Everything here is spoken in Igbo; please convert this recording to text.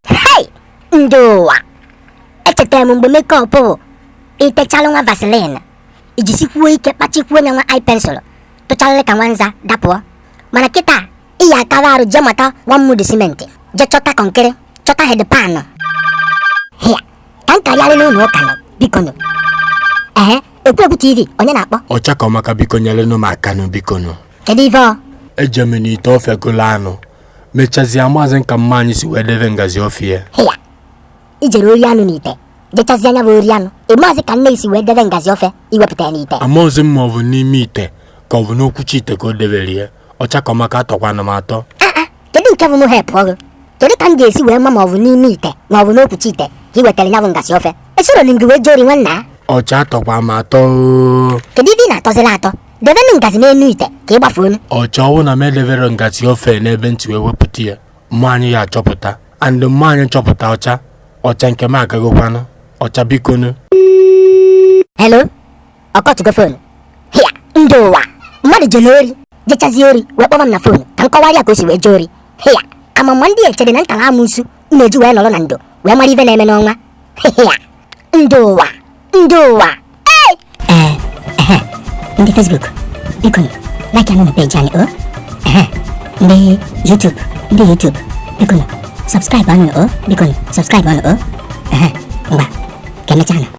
Hey! Ndị ụwa! Echetara m mgbe makeup bụ itechalụ nwa vaseline i jisikwuo ike kpachikwuo nya nwa eye pencil tụcharịrị ka nwa nza dapụọ mana kịta ị ya-akara arụ jee mata nwa mudu simenti jee chọta kọnkịrị chọta headpan hịa ka m karịarị n'ụlọ ụka nọ biko nụ ehe Ekwebu TV, onye na-akpọ? Ọcha ka ọmaka biko nyerenụ m aka nụ biko nụ. Kedu ife ọ? Eje m n'ite ofe golo anụ. Mechazia amazị m ka mma anyị si wee debe ngazi ofe ya. Hịya, i jere ori anụ n'ite. Jechazia nya bụ ori anụ. Ị mazị ka nne i si wee debe ngazi ofe i wepụta ya n'ite. Amaghịzi m ma ọ bụ n'ime ite ka ọ bụ n'okwuchi ite ka o debere ya. Ọcha ka ọmaka atọkwana m atọ kedu nke bụ mụ helpụọrụ kedu ka m ga-esi wee ma ma ọ bụ n'ime ite ma ọ bụ n'okwuchi ite ka ị wetara ya bụ ngazi ofe esoro m gị wee jee ori nwanna ọcha atọkwa m atọ oo. kedu ife ị na-atọzila atọ debenụ ngazi n'elu ite ka ị gbafuo onu ọcha ọ wụ na m edebere ngazi ofe n'ebe m si wee wepụta ya mma anyị ya-achọpụta and mma anyị chọpụta ọcha ọcha nke m agagokwanụ ọcha bikonu helo ọ kọtụgo fonu hịa ndị ụwa mmadụ jere ori jechazie ori wee kpọba m na fonu ka m kọwara ya ka o si wee jee ori hịa amam ma ndị echere na m tara amụsu m ji wee nọrọ na ndo wee mara ife na-eme n'anwụ hịa ndị ụwa ndị ụwa ee eh, eh, eh, ndị Facebook biko like anụ na peji anyị o oh. ndị YouTube ndị YouTube biko subscribe anụ o oh. biko subscribe anụ o oh. ngwa ka emechaa